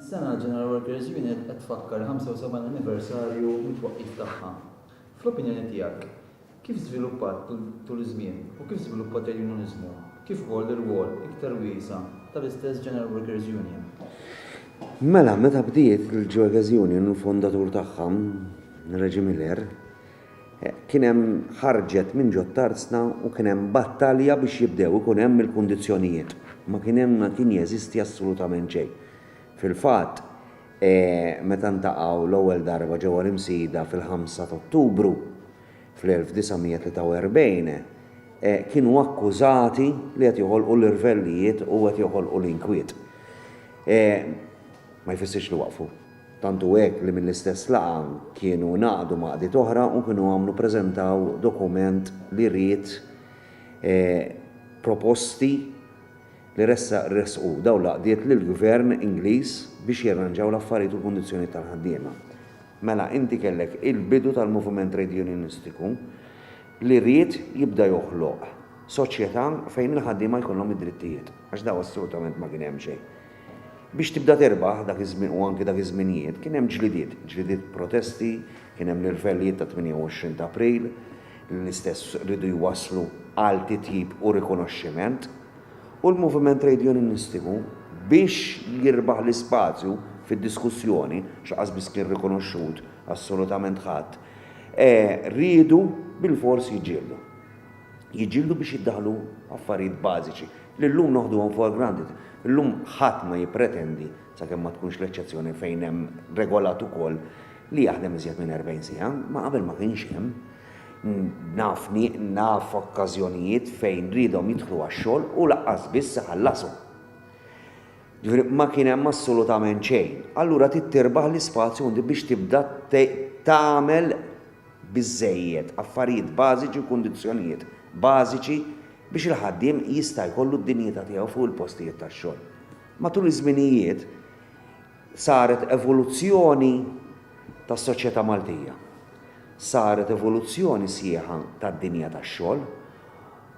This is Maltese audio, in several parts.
Dis-sena l-General Workers Unit qed tfakkar il-75 anniversarju mit-twaqqif tagħha. Fl-opinjoni tiegħek, kif żviluppat tul iż-żmien u kif żviluppat il-Unioniżmu, kif ukoll l-irwol iktar wiesa' tal-istess General Workers Union? Mela, meta bdiet il-Workers Union, il-fondatur tagħha, Reggie Miller, Kien hemm ħarġet minn ġo t-tarzna u kien hemm battalja biex jibdew ikun hemm il-kundizzjonijiet. Ma kien hemm ma kien jeżisti assolutament xejn. Fil-fatt, meta ntaqgħu l-ewwel darba ġewwa l-Imsida fil-ħamsa ta' Ottubru fl-1943, kienu akkużati li qed joħolqu l-irvellijiet u qed joħolqu l-inkwiet. Ma jfissirx li waqfu. Tant hu hekk li mill-istess laqgħa kienu ngħaqdu m'għaqdiet oħra u kienu għamlu preżentaw dokument li ried proposti li ressaq ressqu dawn l-għaqdiet lill-Gvern Ingliż biex jirranġaw l-affarijiet u l-kundizzjonijiet tal-ħaddiema. Mela inti kellek il-bidu tal-moviment trade unionistiku li ried jibda joħloq soċjetà fejn il-ħaddiema jkollhom id-drittijiet, għax dawn assolutament ma kien hemm xejn. Biex tibda tirbaħ, dak iż-żmien u anki dak iż-żminijiet, kien hemm ġlidiet, ġlidiet protesti, kien hemm l-irvellijiet tat-28 ta' April, li l-istess riedu jwasslu għal titjib u rikonoxximent, u l-moviment trejdjuninistiku, biex jirbaħ l-ispazju fid-diskussjoni, għax laqqas biss kien rikonoxxut assolutament ħadd, riedu bilfors jiġġieldu. jiġġieldu biex jiddaħħlu affarijiet bażiċi li llum noħduhom for granted. Illum ħadd ma jippretendi, sakemm ma tkunx l-eċċezzjoni fejn hemm regolat ukoll, li jaħdem iżjed minn 40 siegħa, ma qabel ma kienx hemm. Naf naf okkażjonijiet fejn riedhom jidħlu għax-xogħol u lanqas biss iħallashom. Ġifieri ma kien hemm assolutament xejn. Allura trid tirbaħ l-ispazju biex tibda tagħmel biżżejjed affarijiet bażiċi u kundizzjonijiet bażiċi biex il-ħaddiem jista' jkollu d-dinjità tiegħu fuq il-postijiet tax-xogħol. Matul iż-żminijiet saret evoluzzjoni tas-soċjetà Maltija. Saret evoluzzjoni sħiħa tad-dinja tax-xogħol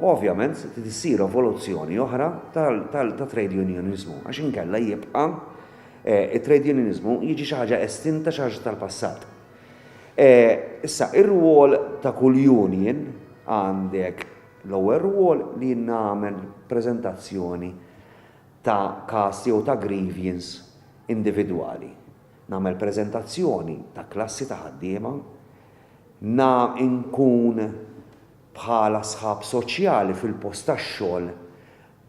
u ovvjament se trid issir evoluzzjoni oħra tat-trade unioniżmu għax inkella jibqa' t-trade unioniżmu jiġi xi ħaġa estinta, xi ħaġa tal-passat. Issa, ir-rwol ta' kull union għandek l-ewwel rwol li nagħmel preżentazzjoni ta' każ jew ta' grievance individwali. Nagħmel preżentazzjoni ta' klassi ta' ħaddiema, na nkun bħala sħab soċjali fil-post tax-xogħol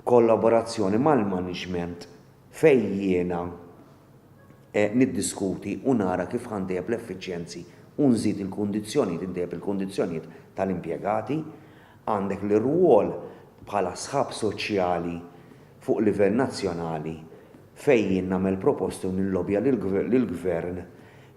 b'kollaborazzjoni mal-management fejn jiena niddiskuti u nara kif ħa ntejjeb l-effiċjenzi u nżid il-kundizzjonijiet, intejjeb il-kundizzjonijiet tal-impjegati. Għandek l-irwol bħala sħab soċjali fuq livell nazzjonali fejn jien nagħmel proposti u nillobja lill-Gvern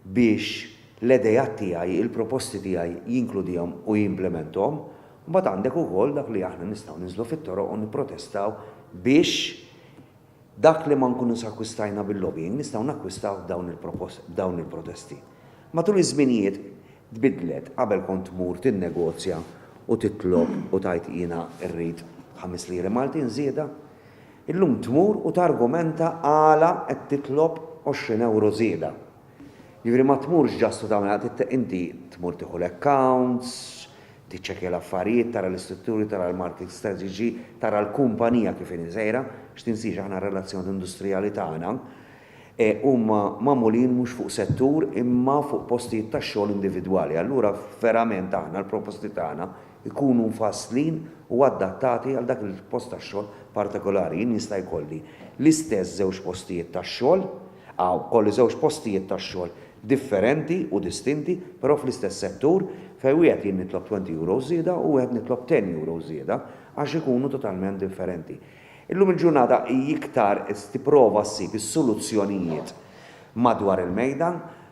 biex l-ideat tiegħi, il-proposti tiegħi jinkludihom u jimplementhom. Mbagħad għandek ukoll dak li aħna nistgħu ninżlu fit-toroq u nipprotestaw biex Dak li ma nkunux akkwistajna bil-lobbying nistgħu nakkwistawh b'dawn il-protesti. Matul iż-żminijiet tbiddlet, qabel kont tmur tinnegozja u titlob u tgħid jiena rrid ħames liri Maltin żieda. Illum tmur u targumenta għala qed titlob għoxrin ewro żieda. Jiġifieri ma tmurx just u tagħmel inti tmur tieħu l-accounts, tiċċekkja l-affarijiet, tara l-istrutturi, tara l-marki strateġiċi, tara l-kumpanija kif inhi sejra, x'tinsiex aħna r-relazzjoni industrijali tagħna huma magħmulin mhux fuq settur imma fuq postijiet tax-xogħol individwali. Allura verament aħna l-proposti tagħna jkunu mfasslin u adattati għal dak il-post tax-xogħol partikolari. Jien jista' jkolli l-istess żewġ postijiet tax-xogħol, Hawn kolli żewġ postijiet tax-xogħol differenti u distinti, però fl-istess settur, fejn wieħed jien nitlob twenty euros żieda u wieħed nitlob ten euros żieda għax ikunu totalment differenti. Illum il-ġurnata hi iktar tipprova ssib is-soluzzjonijiet madwar il-mejda,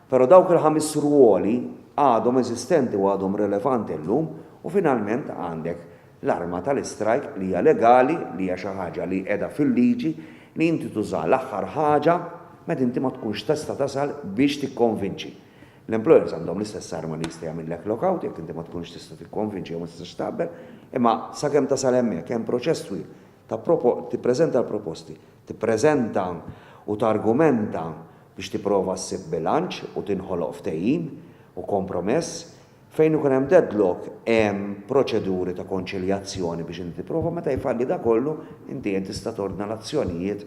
però dawk il-ħames rwoli għadhom eżistenti u għadhom rilevanti llum u finalment għandek L-arma tal-istrajk li hija legali, li hija xi ħaġa li qiegħda fil-liġi, li inti tużaha l-aħħar ħaġa meta inti ma tkunx testa' tasal biex tikkonvinċi. L-employers għandhom l-istess arma li jista' jagħmillek lockout jekk inti ma tkunx tista' tikkonvinċi jew ma tistax taqbel, imma sakemm tasal hemmhekk hemm proċess twil ta' tippreżenta l-proposti, tippreżenta u targumenta biex tipprova ssib bilanċ u tinħoloq ftehim u kompromess Fejn ikun hemm deadlock, hemm proċeduri ta' konċiljazzjoni biex inti tipprova. Meta jfalli dak kollu, inti qed tista' tordna l-azzjonijiet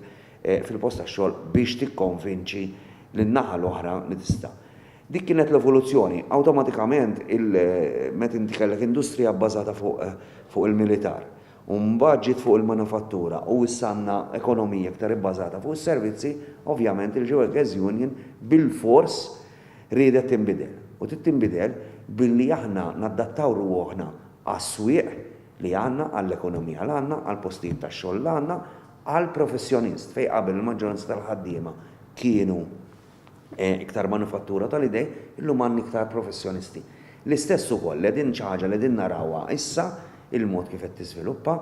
fil-post tax-xogħol biex tikkonvinċi lin-naħa l-oħra li tista'. Dik kienet l-evoluzzjoni. Awtomatikament, meta inti kellek industrija bbażata fuq il-militar, u mbagħad ġiet fuq il-manifattura u issa għandna ekonomija iktar ibbażata fuq is-servizzi, ovvjament il-Gewerkes Union bilfors riedet tinbidel. U trid tinbidel billi aħna nadattaw ruħna għas-swieq li għandna, għall-ekonomija li għandna, għall-postijiet tax-xogħol li għandna, għall-professjonist, fejn qabel il-maġġoranza tal-ħaddiema kienu, iktar manifattura tal-idej, illum għandna iktar professjonisti. L-istess ukoll, li qegħdin xi ħaġa li qegħdin narawha issa, il-mod kif qed tiżviluppa,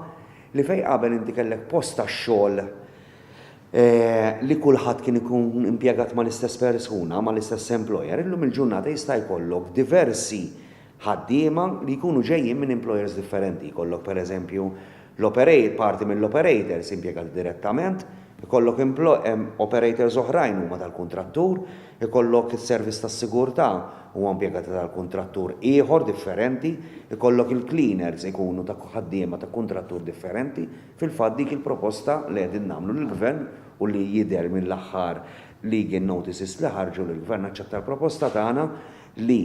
li fejn qabel inti kellek post tax-xogħol li kulħadd kien ikun impjegat mal-istess persuna, mal-istess employer, illum il-ġurnata jista' jkollok diversi ħaddiema li jkunu ġejjin minn employers differenti, jkollok per eżempju l-operate, parti mill-operators impjegati direttament, ikollok operators oħrajn huma tal-kuntrattur, ikollok is-service tas-sigurtà huwa impjegati tal-kuntrattur ieħor differenti, ikollok il-cleaners ikunu ta' ħaddiema ta' kuntrattur differenti, fil-fatt dik il-proposta li qegħdin nagħmlu lill-Gvern u li jidher mill-aħħar legal notices li ħarġu li l-Gvern aċċetta l-proposta tagħna li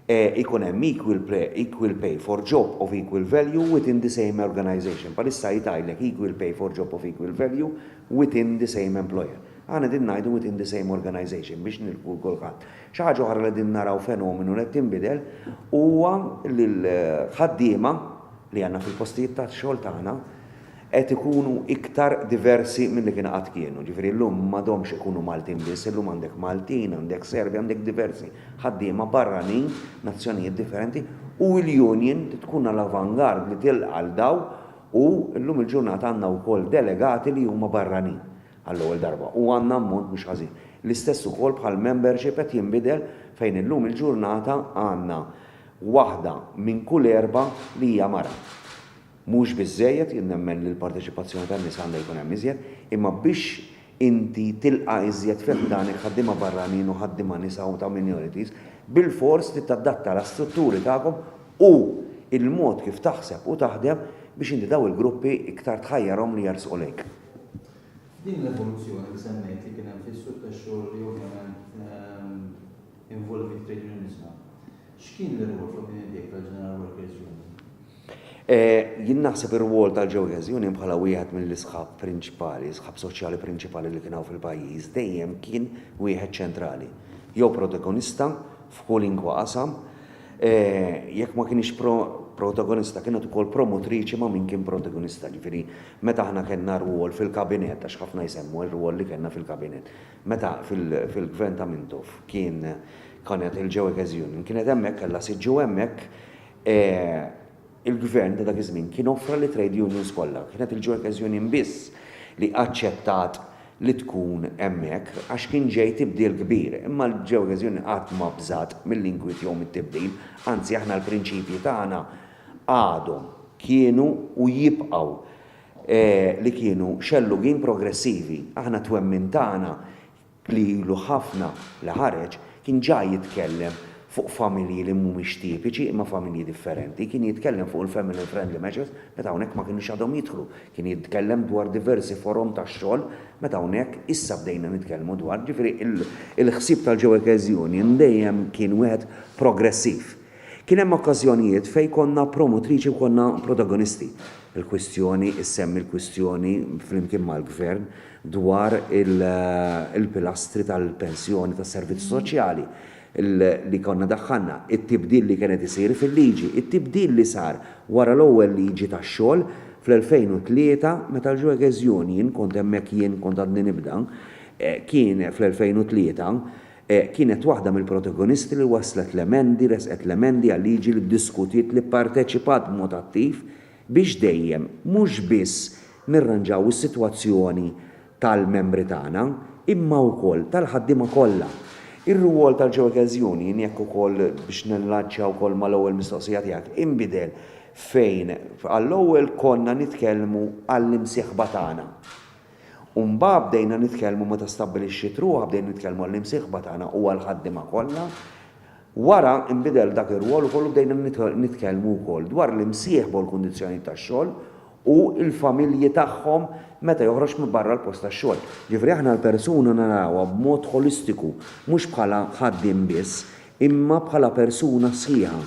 e ikun hemm equal pre, equal pay for job of equal value within the same organization. Bħalissa jgħidlek equal pay for job of equal value within the same employer. Aħna qegħdin ngħidu within the same organization biex nilħqu l-kulħadd. Xi ħaġa oħra li qegħdin naraw fenomenu li qed tinbidel huwa li l-ħaddiema li għandna fil-postijiet tax-xogħol tagħna qed ikunu iktar diversi milli kien qatt kienu. Jiġifieri llum m'għadhomx ikunu Maltin biss, illum għandek Maltin, għandek Serbi, għandek diversi ħaddiema barranin, nazzjonijiet differenti, u l-union trid tkun għal avant-garde li tilqa' 'l dawn u llum il-ġurnata għandna wkoll delegati li huma barranin għall-ewwel darba u għandna ammont mhux ħażin. L-istess ukoll bħall-membership qed jinbidel fejn illum il-ġurnata għandna waħda minn kull erbgħa li hija mara. Mhux biżżejjed, jien nemmen li l-parteċipazzjoni tan-nisa għandha jkun hemm iżjed, imma biex inti tilqa' iżjed fi ħdanek ħaddiema barranin u ħaddiema nisa u ta' minorities, bilfors trid tadatta l-istrutturi tagħkom u l-mod kif taħseb u taħdem biex inti dawn il-gruppi iktar tħajjarhom li jersqu lejk. F'din l-evoluzzjoni li semmejt li kien hemm fis-suq tax-xogħol li ovvjament, involvi t-trade unionizmu. X'kien l-irwol fl-opinjoni tiegħek tal-General Workers Union? Jien naħseb ir-rwol tal-Workers Union bħala wieħed mill-isħab prinċipali, sħab soċjali prinċipali li kien hawn fil-pajjiż dejjem kien wieħed ċentrali, jew protagonista f'kwalunkwe qasam, jekk ma kienx protagonista kienet ukoll promotriċi ma' min kien protagonista. Jiġifieri meta aħna kellna rwol fil-Kabinett, għax ħafna jsemmu r-rwol li kellna fil-Kabinett, Meta fil-gvern ta' Mintoff kien kienet il-Geueges Union kienet hemmhekk kellha siġġu u hemmhekk il-gvern ta' dak iż-żmien kien offra lit-trade unions kollha. Kienet il-Geueges Union biss li aċċettat li tkun hemmhekk għax kien ġej tibdil kbir. Imma l-Geueges Union qatt ma bżgħet mill-inkwiet jew mit-tibdil, anzi aħna l-prinċipji tagħna għadhom, kienu u jibqgħu li kienu xellugin progressivi. Aħna t-twemmin tagħna, li ilu ħafna li ħareġ, kien ġa jitkellem fuq familji li mhumiex tipiċi imma familji differenti, kien jitkellem fuq il-family friendly measures meta hawnhekk ma kinux għadhom jidħlu, kien jitkellem dwar diversi forom ta' xogħol meta hawnhekk issa bdejna nitkellmu dwar, ġifieri il-ħsieb tal-Ġewekkeż Union dejjem kien wieħed progressiv. Kien hemm okkażjonijiet fejn konna promotriċi u konna protagonisti. Il-kwistjoni, issemmi l-kwistjoni flimkien mal-Gvern dwar il-pilastri tal-pensjoni tas-servizzi soċjali li konna daħħalna, it-tibdil li kien qed isir fil-liġi, it-tibdil li sar wara l-ewwel liġi tax-xogħol fl-2003 meta l-Jueghezion, jien kont hemmhekk jien kont għadni nibda, kien fl-2003, kienet waħda mill-protagonisti li wasslet l-emendi, ressqet l-emendi għal-liġi li ddiskutiet li pparteċipat b'mod attiv biex dejjem mhux biss nirranġaw is-sitwazzjoni tal-membri tagħna imma wkoll tal-ħaddiema kollha. Ir-rwol tal-Ġeoekerz Union, jekk ukoll biex nillanċja wkoll mal-ewwel mistoqsija tiegħek, inbidel fejn għall-ewwel konna nitkellmu għall-imsieħba tagħna. U mbagħad bdejna nitkellmu meta stabbilixxiet ruħha bdejna nitkellmu għall-imsieħba tagħna u għall-ħaddiema kollha. Wara nbidel dak ir-rwol ukoll u bdejna nitkellmu wkoll dwar l-imsieħba u l-kundizzjonijiet tax-xogħol u l-familji tagħhom meta joħroġ minn barra l-post tax-xogħol. Jiġifieri aħna l-persuna narawha b'mod ħolistiku, mhux bħala ħaddiem biss, imma bħala persuna sħiħa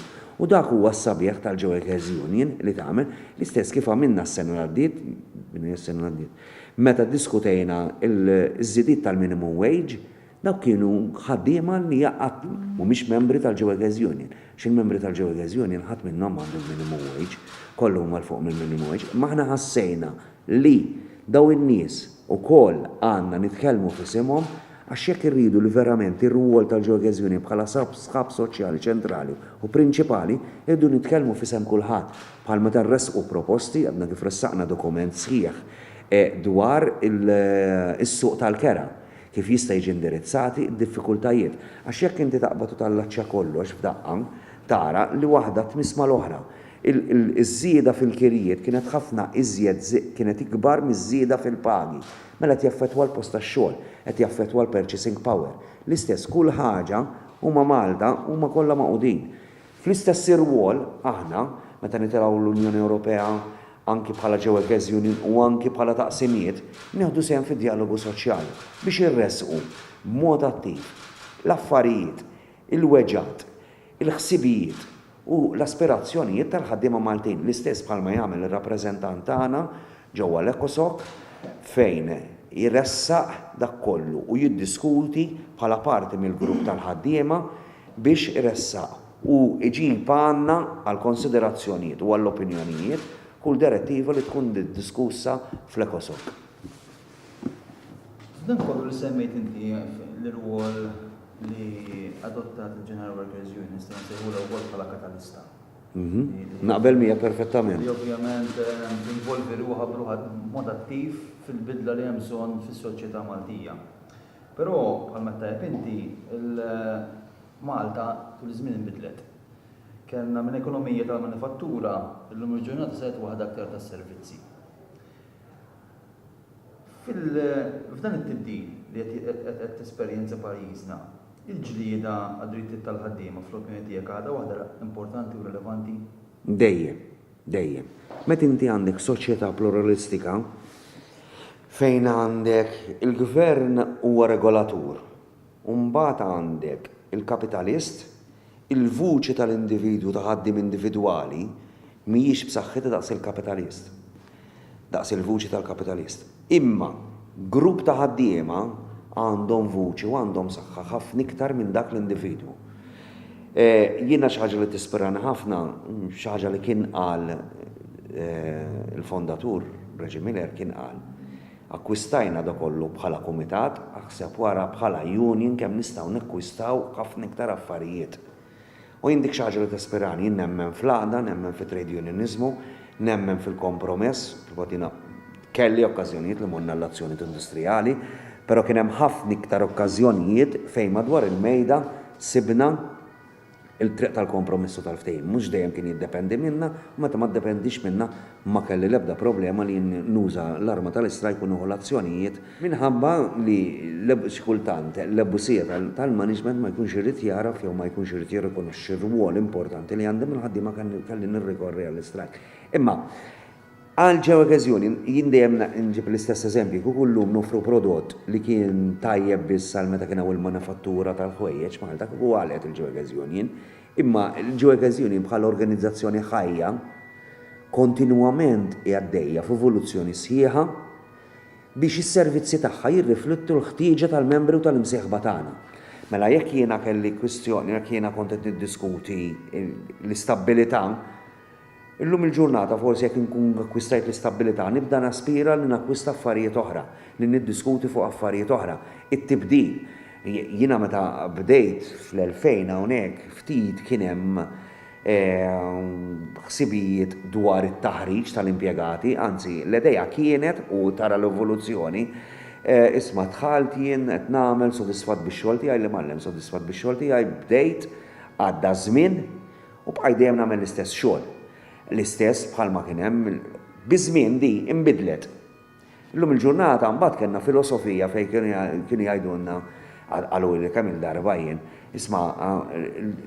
u dak huwa s-sabiħ tal-Joeckers Union li tagħmel, l-istess kif għamilna s-sena li għaddiet, din hija s-sena li għaddiet, meta ddiskutejna l-żidiet tal-minimum wage, dawk kienu ħaddiema li qatt mhumiex membri tal-Joeckers Union, għax il-membri tal-Joeckers Union ħadd minnhom m'għandu l-minimum wage, kollha huma 'l fuq mill-minimum wage, imma aħna ħassejna li dawn in-nies ukoll għandna nitkellmu f'isimhom għax jekk irridu li verament ir-rwol tal-ġeokeżjoni bħala sħab soċjali ċentrali u prinċipali irridu nitkellmu f'isem kulħadd bħal meta nressqu proposti, għadna kif ressaqna dokument sħiħ dwar is-suq tal-kera, kif jista' jiġi indirizzati d-diffikultajiet. Għax jekk inti taqbad u tallaċċja kollox f'daqqa tara li waħda tmiss mal-oħra. Iż-żieda fil-kirjiet kienet ħafna iżjed kienet ikbar miż-żieda fil-pagi. Mela qed jaffettwa l-post tax-xogħol, qed jaffettwa l-purchasing power. L-istess kull ħaġa, huma Malta, huma kollha magħqudin. Fl-istess irwol, aħna, meta nitilgħu l-Unjoni Ewropea, anki bħala ġewekeż union u anki bħala taqsimiet, nieħdu sehem fid-djalogu soċjali biex irressqu b'mod attiv l-affarijiet, il-weġgħat, il-ħsibijiet u l-aspirazzjonijiet tal-ħaddiema Maltin, l-istess bħalma jagħmel ir-rappreżentant tagħna ġewwa l-ECOSOC fejn jressaq dak kollu u jiddiskuti bħala parti mill-grupp tal-ħaddiema biex iressaq u jġib għandna għall-konsiderazzjonijiet u għall-opinjonijiet kull direttiva li tkun diskussa fl-ECOSOC. F'dan kollu li semmejt inti l-irwol li adottat il-General Workers Union, nista' nsejħulha wkoll bħala katalista. Mhm. Naqbel mija perfettament. Li ovvjament eh, involvi ruħa b'ruħa mod attiv fil-bidla li hemm bżonn fis-soċjetà Maltija. Però bħal ma tajb inti Malta tul iż-żmien inbidlet. Kellna minn ekonomija tal-manifattura illum il-ġurnata sajt waħda aktar tas-servizzi. F'dan it-tibdil li qed tesperjenza pajjiżna, il-ġlieda għad-drittijiet tal-ħaddiema fl-opinjoni tiegħek għadha waħda importanti u rilevanti? Dejjem. Dejjem. Meta inti għandek soċjetà pluralistika fejn għandek il-gvern huwa regolatur, u mbagħad għandek il-kapitalist, il-vuċi tal-individwu ta' ħaddiem individwali mhijiex b'saħħitha daqs il-kapitalist, daqs il-vuċi tal-kapitalist. Imma grupp ta' ħaddiema għandhom vuċi u għandhom saħħa ħafna iktar minn dak l-individwu. Jiena xi ħaġa li tispirani ħafna, xi ħaġa li kien qal il-fondatur, Reggie Miller, kien qal, Akkwistajna da kollu bħala kumitat, aħseb wara bħala union kemm nistgħu nekkwistaw ħafna iktar affarijiet. U jien dik xi ħaġa li tispirani, jien nemmen fl-għaqda, nemmen fit-trade unioniżmu, nemmen fil-kompromess, fil-fatt jiena kelli okkażjonijiet li morna l-azzjonijiet industrijali, però kien hemm ħafna iktar okkażjonijiet fejn madwar il-mejda sibna, Il-triq tal-kompromiss u tal-ftehim mhux dejjem kien jiddependi minna, u meta ma ddependix minna ma kelli l-ebda problema li jien nuża l-arma tal-istrajk u nieħu l-azzjonijiet, minħabba li xi kultant l-ebusija tal-management ma jkunx irid jagħraf jew ma jkunx irid jirrikonoxxi r-rwol importanti li għandi mal-ħaddiema kelli nirrikorri għall-istrajk. Imma. Għal ċe okeżjoni, jien dejjem nġib l-istess eżempju, kieku llum noffru prodott li kien tajjeb biss għal meta kien hawn il-manifattura tal-ħwejjeġ Malta kieku għalqet il-ċe okeżjoni. Imma l-ċe okeżjoni bħala organizzazzjoni ħajja kontinwament hi għaddejja f'evoluzzjoni sħiħa biex is-servizzi tagħha jirriflettu l-ħtieġa tal-membri u tal-imsieħba tagħna. Mela jekk jiena kelli kwistjoni, jekk jiena kont qed niddiskuti l-istabbilità, Illum il-ġurnata forsi jekk inkun akkwistajt l-istabbilità nibda naspira li nakkwista affarijiet oħra, li niddiskuti fuq affarijiet oħra. It-tibdil. Jiena meta bdejt fl-2000 hawnhekk ftit kien hemm ħsibijiet dwar it-taħriġ tal-impjegati, anzi l-idea kienet, u tara l-evoluzzjoni, isma' dħalt jien qed nagħmel sodisfatt bix-xogħol tiegħi, l-imgħallem sodisfatt bix-xogħol tiegħi, bdejt, għadda ż-żmien U bqajt dejjem nagħmel l-istess xogħol. L-istess bħalma kien hemm. Biż-żmien di inbidlet. Illum il-ġurnata mbagħad kellna filosofija fejn kienu jgħidulna, qaluli kemm il-darba jien, isma'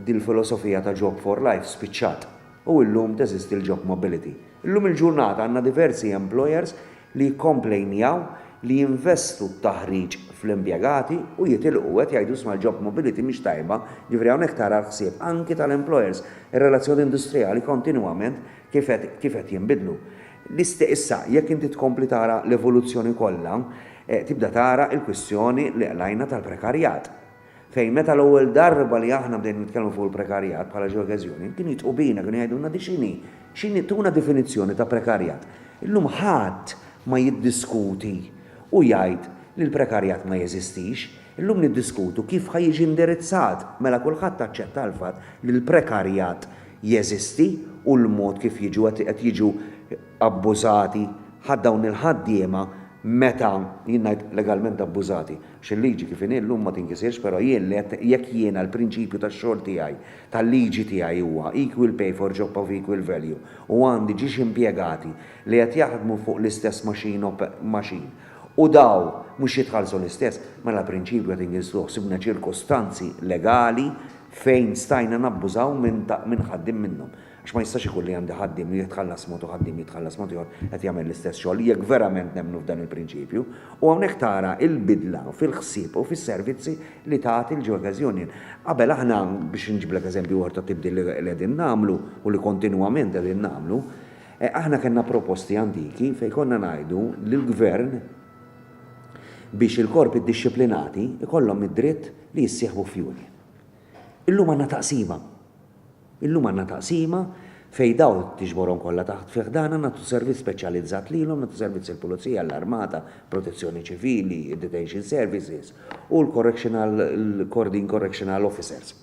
din il-filosofija ta' Job for Life spiċċat u illum teżisti l-Job Mobility. Illum il-ġurnata għandna diversi employers li jikkomplejnjaw li jinvestu t-taħriġ fl-impjegati u jitilqu u qed jgħidu isma' l-job mobility mhix tajba, jiġifieri hawnhekk tara l-ħsieb anki tal-employers, ir-relazzjoni industrijali kontinwament kif qed kif qed jinbidlu. L-iste issa jekk inti tkompli tara l-evoluzzjoni kollha tibda tara l-kwistjoni li qlajna tal-prekarjat. Fejn meta l-ewwel darba li aħna bdejna nitkellmu fuq il-prekarjat bħala ġeokeżjoni, kienu jitqu bina, kienu jgħidulna di x'inhi? X'inhi? Tuna definizzjoni ta' prekarjat. Illum ħadd ma jiddiskuti u jgħid li l-prekarjat ma jeżistix. Illum niddiskutu kif ħa jiġi indirizzat. Mela kulħadd aċċetta l-fatt li l-prekarjat jeżisti u l-mod kif jiġu qed jiġu abbużati ħadd dawn il-ħaddiema meta, jien ngħid legalment abbużati, Għax il-liġi kif inhi llum ma tinkisirx, però jien li qed jekk jiena l-prinċipju tax-xogħol tiegħi, tal-liġi tiegħi huwa equal pay for job of equal value u għandi ġiex impjegati li qed jaħdmu fuq l-istess machine op machine u daw mhux jitħallsu l-istess, mela l-prinċipju qed inkisruh. Sibna ċirkustanzi legali fejn stajna nabbużaw minn ta' minn ħaddiem minnhom. Għax ma jistax ikun li għandi ħaddiem li jitħallas mod u ħaddiem li jitħallas mod ieħor qed jagħmel l-istess xogħol, jekk verament nemmnu f'dan il-prinċipju. U hawnhekk tara l-bidla fil-ħsieb u fis-servizzi li tat il-Geoca's Union. Qabel aħna, biex inġiblek eżempju ieħor ta' tibdil li qegħdin nagħmlu u li kontinwament qegħdin nagħmlu, aħna kellna proposti antiki fejn konna ngħidu lill-Gvern biex il-korpi ddixxiplinati jkollhom id-dritt li jissieħbu f'union. Illum għandna taqsima. Illum għandna taqsima fejn dawn tiġborhom kollha taħt fi ħdanha, nagħtu servizz speċjalizzat lilhom, nagħtu servizz lill-Pulizija, l-Armata, Protezzjoni Ċivili, id-Detention Services u l-Correctional, l-Kordin Correctional Officers.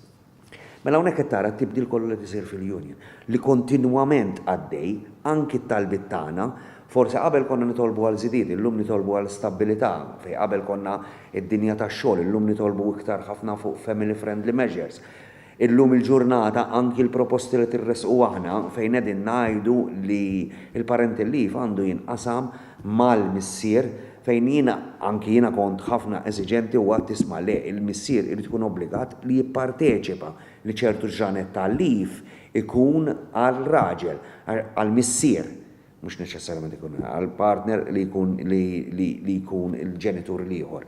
Mela hawnhekk qed tara t-tibdil kollu li qed isir fil-Union, li kontinwament għaddej, anki t-talbiet tagħna, forsi qabel konna nitolbu għal żidiet, illum nitolbu għal stabbilità, fejn qabel konna d-dinja tax-xogħol, illum nitolbu iktar ħafna fuq family friendly measures. Illum il-ġurnata anki l-proposti li tirressqu aħna fejn qegħdin ngħidu li l-parental leave għandu jinqasam mal-missier fejn jiena anki jiena kont ħafna eżiġenti u għedt isma' le l-missier irid ikun obbligat li jipparteċipa li ċertu ġranet ta' leave ikun għal raġel għall-missier mhux neċessarjament ikun għall-partner li jkun li jkun il-ġenitur l-ieħor.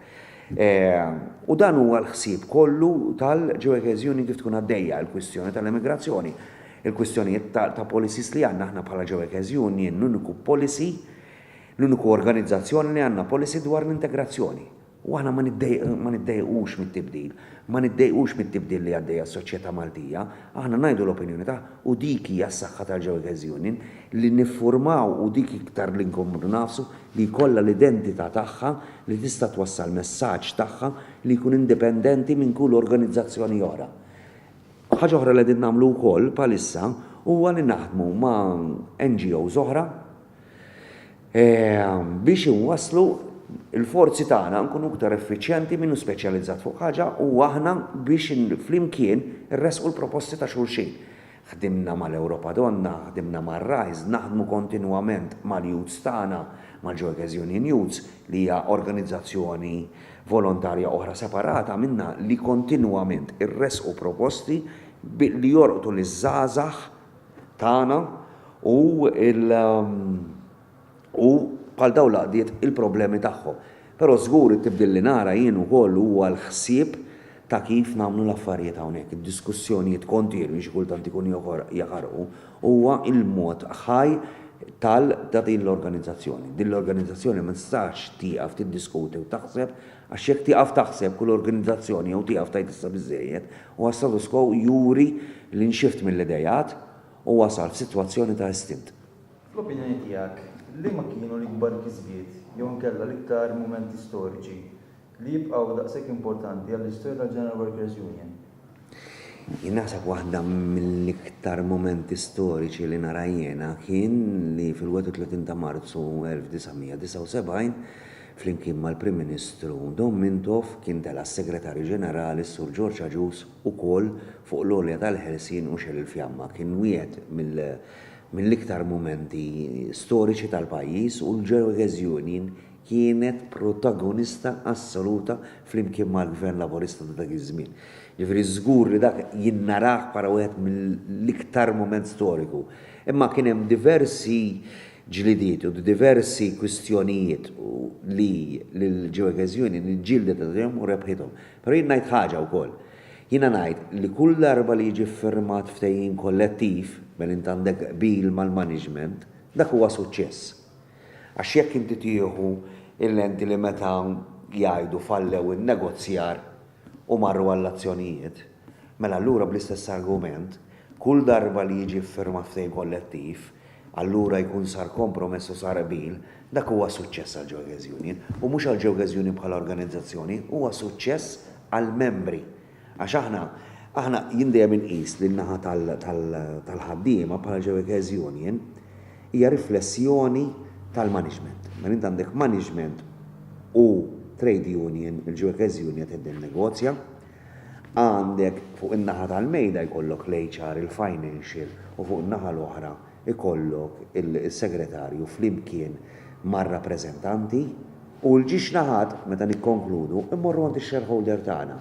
U dan huwa l-ħsieb kollu tal-Ġewekeż Union kif tkun għaddejja l-kwistjoni tal-immigrazzjoni, il-kwistjonijiet ta' policies li għandna aħna bħala Ġewekeż Union, l-uniku policy, l-uniku organizzazzjoni li għandna policy dwar l-integrazzjoni. U aħna ma niddejqux mit-tibdil. Ma niddejqux mit-tibdil li għaddejja s-soċjetà Maltija. Aħna ngħidu l-opinjoni tagħ u dik hija s-saħħa tal-Ġewegħez Union, li niffurmaw u dik iktar li nkomplu ngħafsu li jkollha l-identità tagħha li tista' twassal messaġġ tagħha li jkun indipendenti minn kull organizzazzjoni oħra. Ħaġa oħra li qegħdin nagħmlu wkoll bħalissa huwa li naħdmu ma' NGOs oħra, biex inwasslu l-forzi tagħna nkunu iktar effiċjenti min hu speċjalizzat fuq ħaġa u aħna biex flimkien irressqu l-proposti ta' xulxin. Ħdimna mal-Ewropa Donna, ħdimna mar-RISE, naħdmu kontinwament mal-youths tagħna, mal-Ġorgeż Union Youths, li hija organizzazzjoni volontarja oħra separata minnha li kontinwament irressqu proposti li jorqdu liż-żgħażagħ tagħna u il u bħal dawn l-għaqdiet il-problemi tagħhom. Però żgur it-tibdil li nara jien ukoll huwa l-ħsieb ta' kif nagħmlu l-affarijiet hawnhekk. Id-diskussjonijiet kontinwi xi kultant ikun jaħarqu huwa l-mod ħaj tal ta' din l-organizzazzjoni. Din l-organizzazzjoni ma tistax tieqaf tiddiskuti u taħseb għax jekk tieqaf taħseb kull organizzazzjoni jew tieqaf tgħid issa biżżejjed Huwa status quo juri li nxift mill-ideat u wasal f'sitwazzjoni ta' istint. Fl-opinjoni tiegħek, liema kienu l-ikbar kisbiet jew inkella l-iktar mumenti storiċi li jibqgħu daqshekk importanti għall-istorja tal-General Workers Union? Jien naħseb waħda mill-iktar mumenti storiċi li nara jiena kien li fil-31 ta' Marzu 1979 Flimkien mal-Prim Ministru Dom Mintoff kien tela' s-Segretarju Ġenerali s-Sur George Agius ukoll fuq l-għolja tal-ħelsien u xegħel il-fjamma. Kien wieħed mill-iktar mumenti storiċi tal-pajjiż u l-Georges Union kienet protagonista assoluta flimkien mal-Gvern Laburista ta' dak iż-żmien. Ġifieri żgur li dak jien narah bħala wieħed mill-iktar mument storiku. Imma kien hemm diversi ġlidiet u d-diversi kwistjonijiet li l-Jurges Union ġġieldet għalihom u rebħithom. Però jien ngħid ħaġa wkoll. Jiena ngħid li kull darba li jiġi ffirmat ftehim kollettiv, mela int għandek qbil mal-management, dak huwa suċċess. Għax jekk inti tieħu l-enti li meta jgħidu fallew in-negozjar, u marru għall-azzjonijiet, mela allura bl-istess argument, kull darba li jiġi ffirmat ftehim kollettiv, allura jkun sar kompromess u sar qbil, dak huwa suċċess għall-Jokers Union, u mhux għall-Jokers Union bħala organizzazzjoni, huwa suċċess għall-membri. Għax aħna, aħna, jien dejjem inqis lin-naħa tal-ħaddiema bħala Jokers Union, Hija riflessjoni tal-management. Mela int għandek management u trade union, il-ġuekeż union qed tinnegozja. Għandek fuq in-naħa tal-mejda jkollok l-HR, il-financial u fuq in-naħa l-oħra jkollok is-segretarju flimkien mar-rappreżentanti u l-ġiex naħat, meta nikkonkludu, immorru għand ix-shareholder tagħna.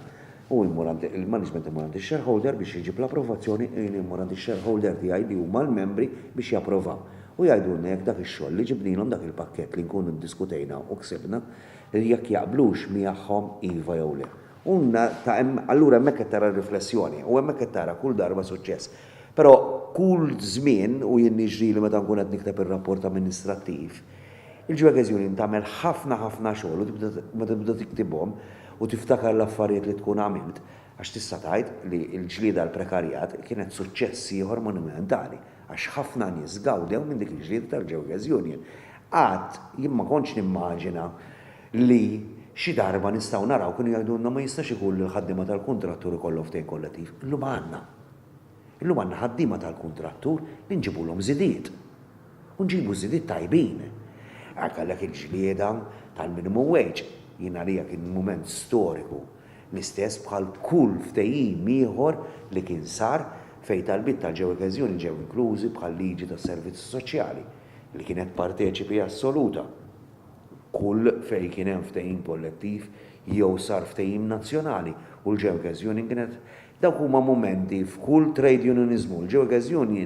Hu jmur għand il-management imur għand ix-shareholder biex iġib l-approvazzjoni, jien immur għand ix-shareholder tiegħi li huma l-membri biex japprovaw. U jgħidulna jekk dak ix-xogħol li ġibnilhom dak il-pakkett li nkunu ddiskutejna u ksibna, jekk jaqblux miegħhom iva jew le. U ta' hemm allura hemmhekk qed tara r-riflessjoni u hemmhekk qed tara kull darba suċċess. Però kull żmien, u jien niġrili meta nkun qed nikteb ir-rapport amministrattiv, Il-Juegez Union tagħmel ħafna ħafna xogħol u tibda meta tibda tiktibhom u tiftakar l-affarijiet li tkun għamilt għax tista' tgħid li l-ġlieda għall-prekarjat kienet suċċess ieħor monumentali għax ħafna nies gawdew minn dik il-ġlieda tal-Juegez Union. Qatt jien ma kontx nimmaġina li xi darba nistgħu naraw kienu jgħidulna ma jistax ikun li l-ħaddiema tal-kuntrattur ikollhom ftehim kollettiv. Illum għandna. Illum għandna ħaddiema tal-kuntrattur li nġibulhom żidiet. u nġibu żidiet tajbin. Hekk għalhekk il-ġlieda tal-minimum wage jien għalija kien mument storiku, l-istess bħal kull ftehim ieħor li kien sar fejn talbiet tal-ġewwa keżjoni ġew inklużi bħal-liġi tas-servizzi soċjali li kienet parteċipi assoluta kull fejn kien hemm ftehim kollettiv jew sar ftehim nazzjonali u l-ġewwa keżjoni kienet dawk huma mumenti f'kull trade unioniżmu l-ġewwa keżjoni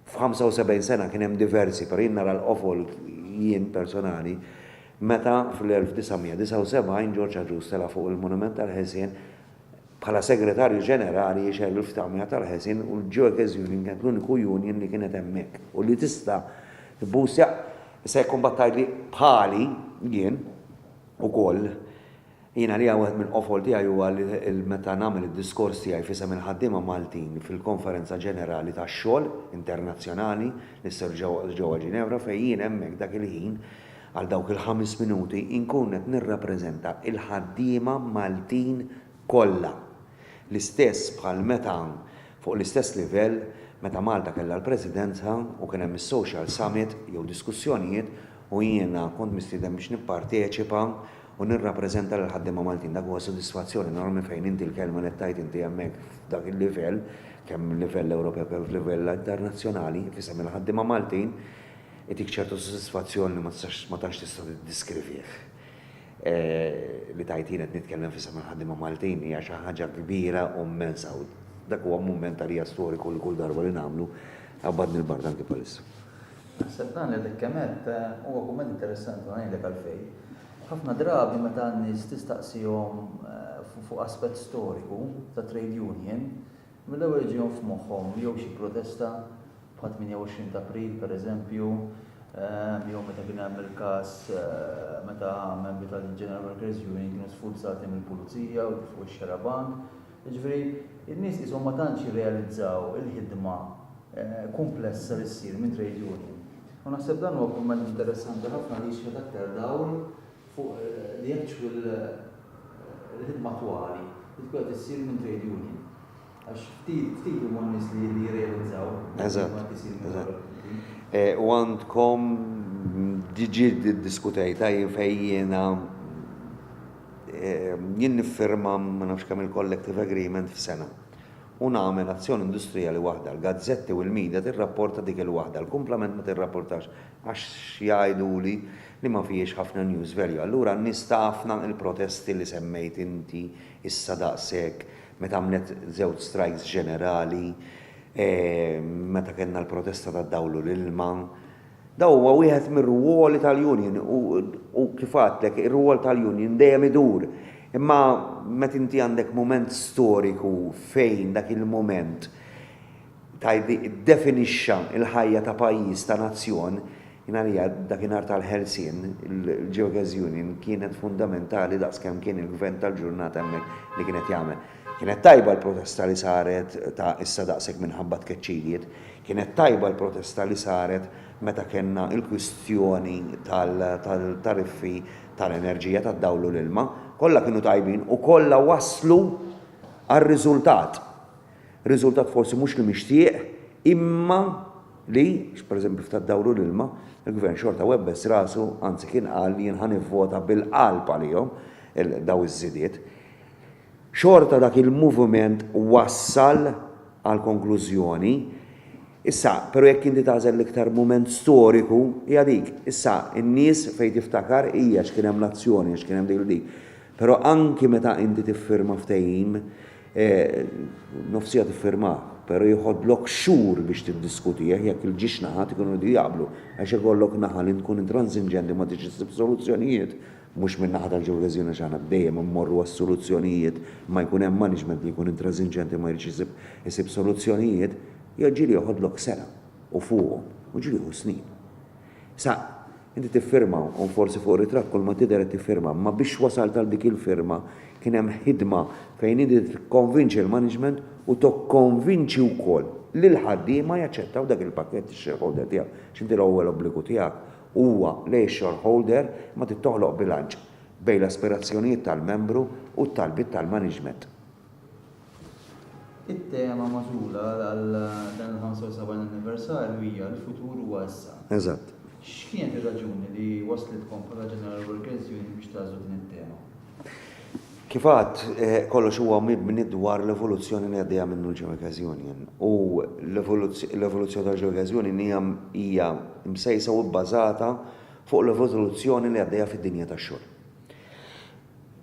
F'75 sena kien hemm diversi, però jien nara l-qofol jien personali meta fl-1979 Ġorġ Agius tela' fuq il-Monument tal-Ħelsien bħala Segretarju Ġenerali jixgħel il-ftamja tal-Ħelsien u l-Jokers Union kienet l-uniku union li kienet hemmhekk u li tista' tbusja. Issa jekk imbagħad tgħidli bħali jien ukoll, Jien għalija wieħed mill-qofol tiegħi huwa li meta nagħmel id-diskors tiegħi f'isem il-ħaddiema Maltin fil-Konferenza Ġenerali tax-Xogħol Internazzjonali li sser ġewwa Ġinevra fejn jien hemmhekk dak il-ħin għal dawk il-ħames minuti inkun qed nirrappreżenta l-ħaddiema Maltin kollha l-istess bħal meta fuq l-istess livell meta Malta kellha l-Presidenza u kien hemm is-Social Summit jew diskussjonijiet u jiena kont mistieden biex nipparteċipa u nirrappreżenta lill-ħaddiema Maltin. Dak huwa sodisfazzjon enormi fejn inti l-kelma li tgħid inti hemmhekk f'dak il-livell, kemm livell Ewropew kemm f'livell internazzjonali, f'isem il-ħaddiema Maltin, itik ċertu sodisfazzjon li ma tistax ma tantx tista' tiddiskrivih. Li tgħid jien qed nitkellem f'isem il-ħaddiema Maltin hija xi ħaġa kbira u mmensa u dak huwa mument għalija storiku li kull darba li nagħmlu qabadni l-bard anki bħalissa. Naħseb dan li dak kemm għedt huwa kumment interessanti u ngħidlek għalfejn. Ħafna drabi meta n-nies tistaqsihom fuq aspett storiku ta' trade union, mill-ewwel iġihom f'moħħhom jew xi protesta bħal 28 t'April pereżempju, jew meta kien hemm il-każ meta membri tal-General Workers' Union kienu sfurzati mill-pulizija u tefgħu x-xarabank, Jiġifieri, in-nies qishom ma tantx jirrealizzaw il-ħidma kumplessa li ssir minn trade union. U naħseb dan huwa kumment interessanti ħafna li jixħet aktar dawl fuq li jekk x'hu l-ħidma attwali li tkun qed issir minn trade union. Għax ftit, ftit huma n-nies li jirrealizzaw il-ħidma li qed issir minn dawn il-gruppi. Eżatt. U għandkom, diġi ddiskutejtha jien fejn jiena, Jien niffirma ma nafx kemm-il collective agreement f'sena u nagħmel azzjoni industrijali waħda. L-gazzetti u l-media tirrapporta dik il-waħda, l-kumplament ma tirrapportax għax jgħiduli li ma fihiex ħafna news value. Allura n-nies taf na il-protesti li semmejt inti issa daqshekk meta għamlet żewġ strikes ġenerali, meta kellna l-protesta tad-dawl u l-ilma, Dan huwa wieħed mir-rwoli tal-union u, u kif għadtlek, ir-rwol tal-union dejjem idur. Imma meta inti għandek mument storiku fejn dak il-mument tajdi ddefinixxa l-ħajja ta' pajjiż, ta' nazzjon, jien għalija dakinhar tal-ħelsien, il-Geogas Union kienet fundamentali daqs kemm kien il-gvern tal-ġurnata hemmhekk li kien qed jagħmel. Kienet tajba l-protesta li saret ta' issa daqshekk minħabba tkeċċijiet. Kienet tajba l-protesta li saret meta kellna l-kwistjoni tal-tariffi tal-enerġija, tad-dawl u l-ilma. Kollha kienu tajbin u kollha wasslu għal riżultat. Riżultat forsi mhux li mixtieq imma li, pereżempju f'tad-dawl u l-ilma, il-Gvern xorta webbes rasu, anzi kien qal jien ħa nivvota bil-qalb għalihom dawn iż-żidiet. Xorta dak il-moviment wassal għall-konklużjoni. Issa, pero' jekk inti tagħżel l-iktar mument storiku, hija dik. Issa, in-nies fejn tiftakar hi għax kien hemm l-azzjoni, għax kien hemm dik 'l dik. Pero' anki meta inti tiffirma ftehim, nofsija tiffirmah, pero' jiħodlok xhur biex tiddiskutih jekk il-ġiex naħat ikunu jridu jaqblu, għax ikollok naħa li tkun intransiġenti u ma tridx issib soluzzjonijiet, Mhux min-naħa tal-ġewreżjoni għax aħna dejjem immorru għas-soluzzjonijiet, imma jkun hemm management li jkun intrażinġenti ma jridx isib isib soluzzjonijiet, jew ġieli joħodlok sena u fuqhom, u ġieli jieħu snin. Sa inti tiffirma u forsi fuq ritratt kulma tidher qed tiffirma, imma biex wasalt għal dik il-firma kien hemm ħidma fejn inti tikkonvinċi l-management u tokkonvinċi wkoll lill-ħaddiema jaċċettaw dak il-pakkett, ix-shareholder tiegħek, għax inti l-ewwel obbligu tiegħek Huwa li x-shareholder ma trid toħloq bilanċ bejn l-aspirazzjonijiet tal-membru u t-talbiet tal-maniġment. It-tema magħżula għal dan il-75 anniversarju hija l-futur huwa issa. Eżatt. X'kienet ir-raġuni li wasslitkom bħala General Workers' Union biex tagħżlu din it-tema? Kif għadt, kollox huwa mibni dwar l-evoluzzjoni li għaddejja minnu l-Joygas Union u l-evoluzzjoni tal-Joygas Union hija hija msejsa u bbażata fuq l-evoluzzjoni li għaddejja fid-dinja tax-xogħol.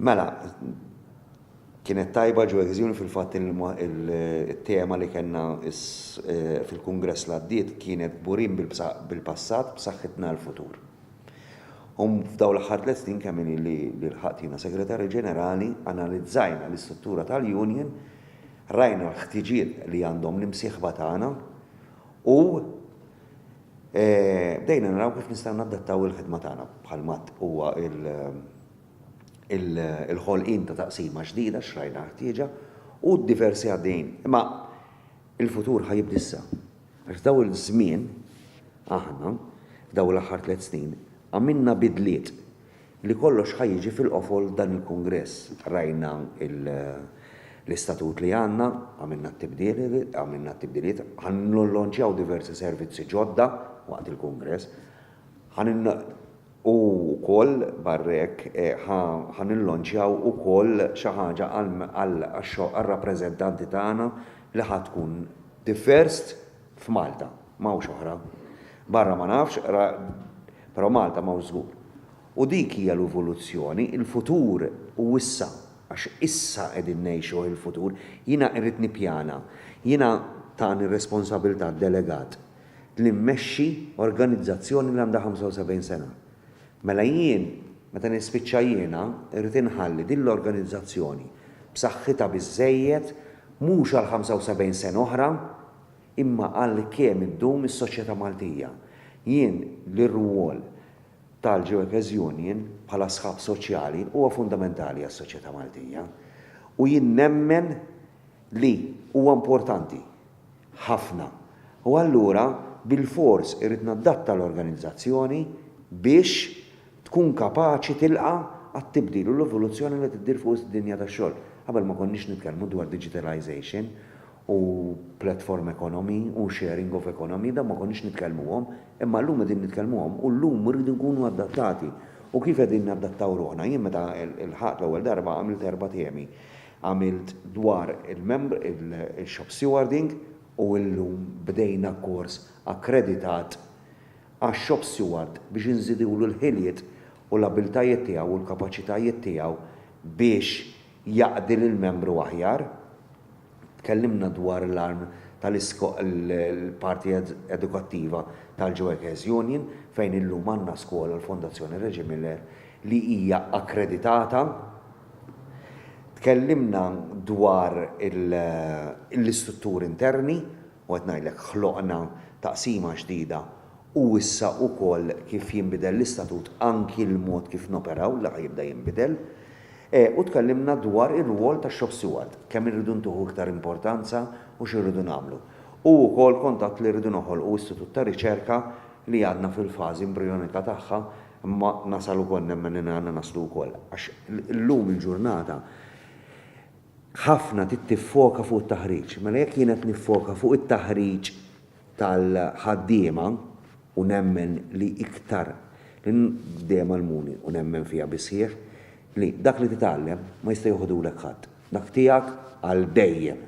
Mela, kienet tajba Joygas Union fil-fatt il-tema li kellna fil-kungress li għaddiet kienet Kburin bil-passat, b'saħħitna għall-futur. U f'dawn l-aħħar tliet snin kemm inhi li lħaqt jiena Segretarju Ġenerali, analizzajna l-istruttura tal-union, rajna l-ħtiġiet li għandhom l-imsieħba tagħna u bdejna naraw kif nistgħu nadattaw il-ħidma tagħna bħal m'għad huwa l-ħolqien ta' taqsima ġdida għax rajna l-ħtieġa u d-diversi għaddejjin. Imma il-futur ħa jibda issa. Għax f'dawn iż-żmien, aħna, f'dawn l-aħħar tliet snin, għamilna bidliet li kollox ħa jiġi fil-qofol dan il-kungress. Rajna l-istatut li għandna, għamilna t-tibdiliet, ħa nillonċjaw diversi servizzi ġodda waqt il-kungress, ħa U wkoll barra hekk ħa nillonċjaw ukoll xi ħaġa għar-rappreżentanti tagħna li ħa tkun the first f'Malta, m'hawnx oħra. Barra ma nafx, però Malta m'hawnx żgur. U dik hija l-evoluzzjoni, il-futur hu issa, għax issa qegħdin ngħixuh il-futur. Jiena irrid nippjana. Jiena tani r-responsabilità delegat li mmexxi organizzazzjoni li għandha 75 sena. Mela jien, meta nispiċċa jiena, irrid inħalli din l-organizzazzjoni b'saħħitha biżżejjed mhux għal 75 sena oħra imma għal kemm iddum is-soċjetà Maltija. Jien li r-rwol tal-Ġewekers Union bħala sħab soċjali huwa fundamentali għas-soċjetà Maltija u jien nemmen li huwa importanti ħafna u allura bilfors irrid naddatta l-organizzazzjoni biex tkun kapaċi tilqa' għat-tibdil u l-evoluzzjoni li qed iddir fuq id-dinja tax-xogħol. Qabel ma konniex nitkellmu dwar digitalization u platform economy u sharing of economy, dawn ma konniex nitkellmuhom, imma llum qegħdin nitkellmuhom u llum irridu nkunu adattati. U kif qegħdin nadattaw ruħna? Jien meta lħaqt l-ewwel darba għamilt erba' temi. għamilt dwar il-shop stewarding u illum bdejna kors akkreditat għax-shop steward biex inżidulu l-ħiliet u l-abbiltajiet tiegħu u l-kapaċitajiet tiegħu biex jaqdi lill-membru aħjar. Tkellimna dwar l-arm tal-parti edukattiva tal-Ġewekes Union fejn illum għandna skola l-Fondazzjoni Reġi Miller li hija akkreditata, Tkellimna dwar l-istrutturi interni u qed ngħidlek ħloqna taqsima ġdida u issa wkoll kif jinbidel l-istatut anki l-mod kif noperaw li ħa jibda jinbidel. U tkellimna dwar ir-rwol tax-shop steward, kemm irridu ntuhu iktar importanza u x'irridu nagħmlu. U wkoll kont għedt li rridu noħolqu istitut ta' riċerka li għadna fil-fażi imbrijonika tagħha Imma nasal ukoll nemmen li għandna naslu wkoll għax illum il-ġurnata ħafna trid tiffoka fuq it-taħriġ. Mela jekk jien qed niffoka fuq it-taħriġ tal-ħaddiema u nemmen li iktar li dejjem għallmuni u nemmen fiha bis-sħiħ li dak li titgħallem ma jista' joħodulek ħadd. Dak tiegħek għal dejjem.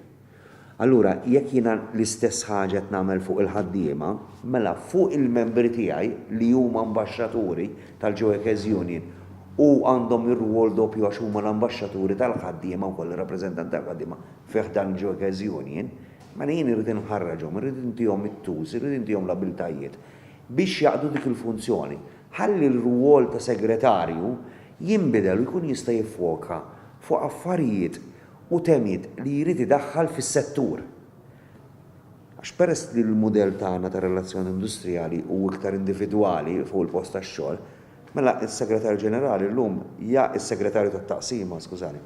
Allura, jekk jiena l-istess ħaġa qed nagħmel fuq il-ħaddiema, mela fuq il-membri tiegħi li huma ambaxxaturi tal-Joekes Union u għandhom ir-rwol doppju għax huma l-ambaxxaturi tal-ħaddiema wkoll, ir-rappreżentanti tal-ħaddiema fi ħdan il-Joekes Union, mela jien irrid inħarraġhom, irrid intihom it-tools, irrid intihom l-abiltajiet biex jaqdu dik il-funzjoni. Ħalli r-rwol ta' segretarju jinbidel u jkun jista' jiffoka fuq affarijiet u temiet li jrid idaħħal fis-settur. Għax peress li l-mudell tagħna ta' relazzjoni industrijali hu iktar individwali fuq il-post tax-xogħol, mela s-Segretarju Ġenerali llum ja s-Segretarju tat-Taqsima, skużani,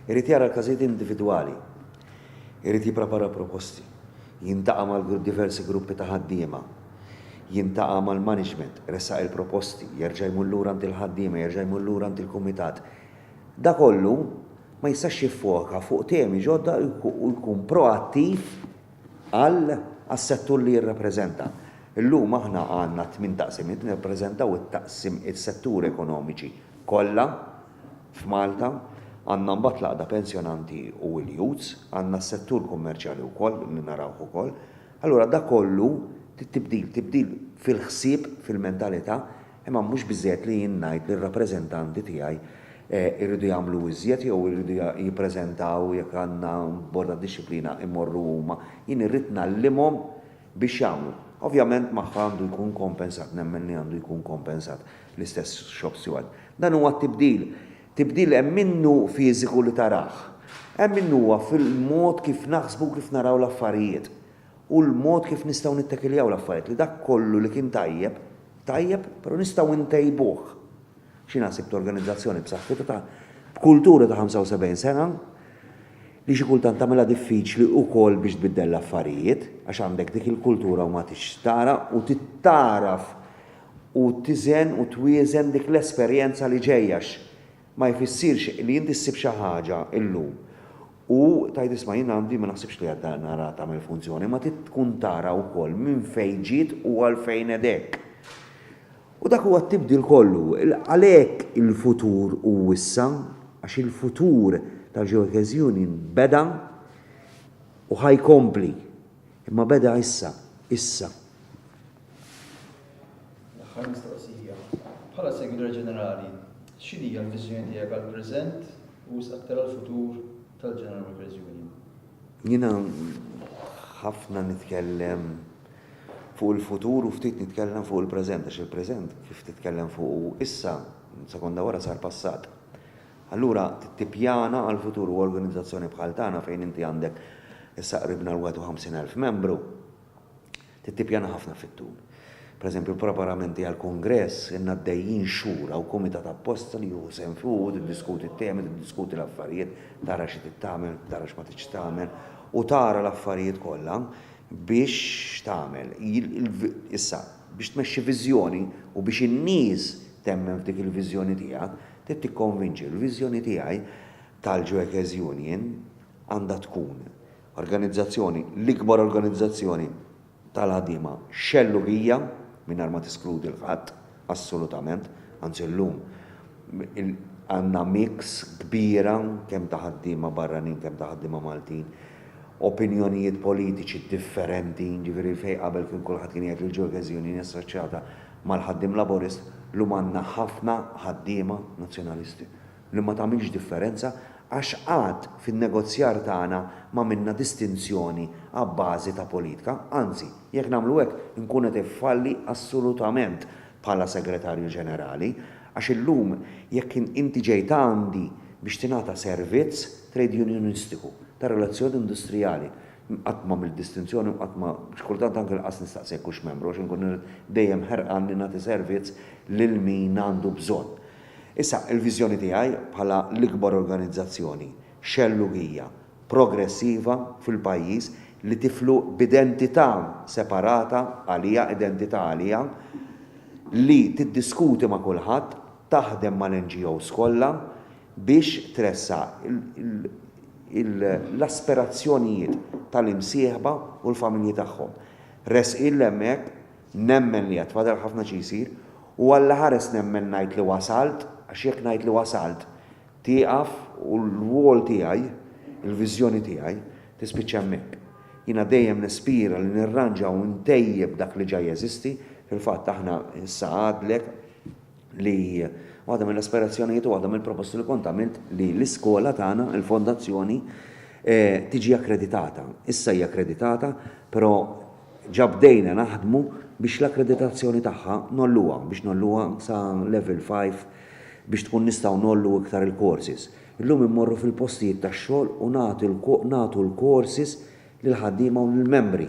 irid jara l-każijiet individwali, irid jipprepara proposti, jiltaqa' ma' diversi gruppi ta' ħaddiema, jiltaqa' mal-management, iressaq il-proposti, jerġa' jmur lura għand il-ħaddiema, jerġa' jmur lura għand il-kumitat, Da kollu ma jistax jiffoka fuq temi ġodda u jkun proattiv għal għas-settur li jirrappreżenta. Illum aħna għandna tmien taqsimiet li nirrappreżentaw it-taqsim is-setturi ekonomiċi kollha f'Malta. Għandna mbagħad l-Għaqda Pensjonanti u l-Youths, għandna s-settur kummerċjali wkoll li narawh ukoll. Allura da kollu tibdil, tibdil fil-ħsieb, fil-mentalità, Imma mhux biżżejjed li jien ngħid li r-rappreżentanti tiegħi jridu jagħmlu iżjed jew iridu jippreżentaw jekk għandna bord għad-dixxiplina jmorru huma. Jien irrid ngħallimhom biex jagħmlu. Ovvjament magħha għandu jkun kompensat, nemmen li għandu jkun kompensat l-istess shop steward. Dan huwa t-tibdil. Tibdil hemm minnu fiżiku li tarah. Hemm minnu huwa fil-mod kif naħsbu u kif naraw l-affarijiet. u l-mod kif nistgħu nittakiljaw l-affarijiet li dak kollu li kien tajjeb, tajjeb, però nistgħu ntejbuh. X'inha sibt organizzazzjoni b'saħħitha ta' b'kultura ta' 75 sena li xi kultant tagħmilha diffiċli wkoll biex tbiddel l-affarijiet għax għandek dik il-kultura u ma tix tara u titgħaraf u tiżen u twieżen dik l-esperjenza li ġejja għax Ma jfissirx li inti ssib xi ħaġa illum u tgħid isma' jien għandi ma naħsibx li għad nara tagħmel funzjoni, ma trid tkun tara wkoll minn fejn ġiet u għalfejn qed hekk. U dak huwa t-tibdil kollu. Għalhekk il-futur hu issa, għax il-futur ta' Joyke's Union beda u ħa jkompli. Imma beda issa, issa. L-aħħar mistoqsija. Bħala Segretarju Ġenerali, x'inhija l-viżjoni tiegħek għall-preżent u wisq aktar għall-futur tal-General Workers Union? Jiena ħafna nitkellem fuq il-futur u ftit nitkellem fuq il-preżent, għax il-preżent kif titkellem fuqu issa, sekonda wara sar passat. Allura tippjana għall-futur u organizzazzjoni bħal tagħna fejn inti għandek issa qribna l-51,000 membru, Trid tippjana ħafna fit-tul. Per eżempju, l-preparamenti għall-kungress ilna għaddejjin xhur, hawn kumitat apposta li jieħu sehem fih u tiddiskuti t-temi, tiddiskuti l-affarijiet, tara xi trid tagħmel, tara x'ma tridx tagħmel u tara l-affarijiet kollha biex tagħmel. Issa, biex tmexxi viżjoni u biex in-nies temmen f'dik il-viżjoni tiegħek, trid tikkonvinċi. Il-viżjoni tiegħi tal-Joekes Union għandha tkun Organizzazzjoni, l-ikbar organizzazzjoni tal-ħaddiema xellugija, mingħajr ma teskludi 'l ħadd, assolutament, anzi llum għandna mix kbira kemm ta' ħaddiema barranin kemm ta' ħaddiema Maltin, opinjonijiet politiċi differenti, jiġifieri fejn qabel kien kulħadd kien jgħid li l-Jurgis Union hi assoċjata mal-ħaddiem Laburist, llum għandna ħafna ħaddiema Nazzjonalisti. li ma tagħmilx differenza għax qatt fin-negozjar tagħna m'għamilna distinzjoni abbażi ta' politka, anzi, jekk nagħmlu hekk inkun qed infalli assolutament bħala Segretarju Ġenerali għax illum jekk inti ġejt għandi biex tingħata servizz trejdjunjonistiku ta' relazzjoni industrijali qatt m'għamilt distinzjoni u qatt ma xi kultant anke lanqas nistaqsi jekk hux membru għax inkun dejjem ħerqan li nagħti servizz lil min għandu bżonn. Issa, il-viżjoni tiegħi bħala l-ikbar organizzazzjoni xellugija progressiva fil-pajjiż li tiflu b'identità separata għaliha, identità għaliha li tiddiskuti ma' kulħadd, taħdem mal-NGOs kollha biex tressaq l-aspirazzjonijiet tal-imsieħba u l-familji tagħhom. Resqi 'l hemmhekk Nemmen li għad fadal ħafna xi jsir, u allaħares nemmen ngħid li wasalt, għax jekk ngħid li wasalt, tieqaf u l-wol tiegħi, il-viżjoni tiegħi, tispiċċa hemmhekk. Jiena dejjem nispira li nirranġa u ntejjeb dak li ġa jeżisti, fil-fatt aħna issa għadlek, li waħda mill-aspirazzjonijiet u waħda mill-proposti li kont għamilt li l-iskola tagħna, il-fondazzjoni, eh, tiġi akkreditata. Issa hija akkreditata, però ġabdejna naħdmu biex l-akkreditazzjoni tagħha nolluha, biex nolluha sa level 5 biex tkun nistgħu nollu iktar il-courses. Illum immorru fil-postijiet tax-xogħol u nagħtu l-courses lil ħaddiema u lill-membri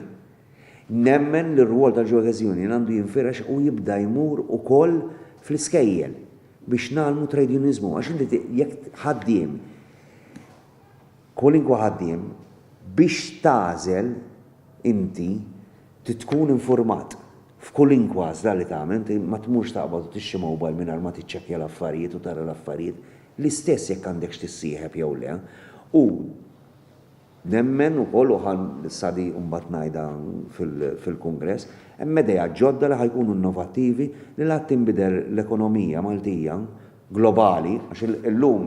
Nemmen li r-rwol tal-Jewkers Union għandu jinfirex u jibda jmur ukoll fl-iskejjel biex ngħallmu trade unioniżmu għax inti jekk ħaddiem kwalinkwa ħaddiem biex tagħżel inti trid tkun infurmat f'kwalinkwa għażla li tagħmel inti ma tmurx taqbad u tixtri mobile mingħajr ma tiċċekkja l-affarijiet u tara l-affarijiet l-istess jekk għandekx tissieħeb jew le u Nemmen ukoll u ħa sa di mbagħad ngħidha fil-kungress, hemm idejat ġodda li ħa jkunu innovattivi li la tinbidel l-ekonomija Maltija globali, għax illum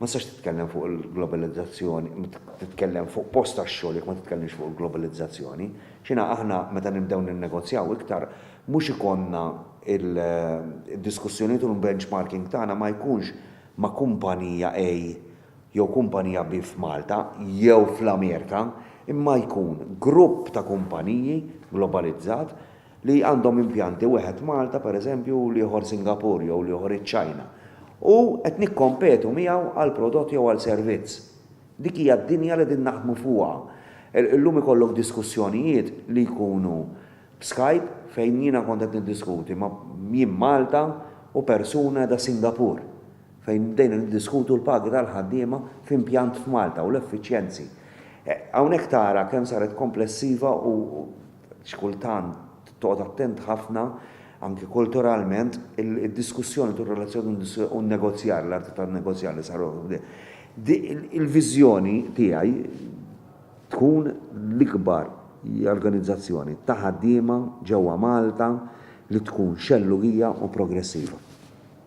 ma tistax titkellem fuq il-globalizzazzjoni, titkellem fuq post tax-xogħol jekk ma titkellimx fuq il-globalizzazzjoni. X'inha aħna meta nibdew ninnegozjaw iktar mhux ikollna d-diskussjonijiet u l-benchmarking tagħna ma jkunx ma' kumpanija A jew kumpanija bi f'Malta jew fl-Amerika, imma jkun grupp ta' kumpaniji globalizzat li għandhom impjanti wieħed Malta, pereżempju, u l-ieħor Singapore jew l-ieħor iċ-Ċina, u qed nikkompetu miegħu għal prodott jew għal servizz. Dik hija d-dinja li qegħdin naħdmu fuqha. Illum ikollok diskussjonijiet li jkunu b'Skype fejn jiena kont qed niddiskuti ma' jien Malta u persuna qiegħda Singapore. fejn bdejna niddiskutu l-pagi tal-ħaddiema f'impjant f'Malta u l-effiċjenzi. Hawnhekk tara kemm saret komplessiva u xi kultant toqgħod attent ħafna, anki kulturalment, id-diskussjoni tul relazzjoni u n-negozjar, l-arti tan-negozjar li saru. Il-viżjoni tiegħi tkun l-ikbar organizzazzjoni ta' ħaddiema ġewwa Malta li tkun xellugija u progressiva.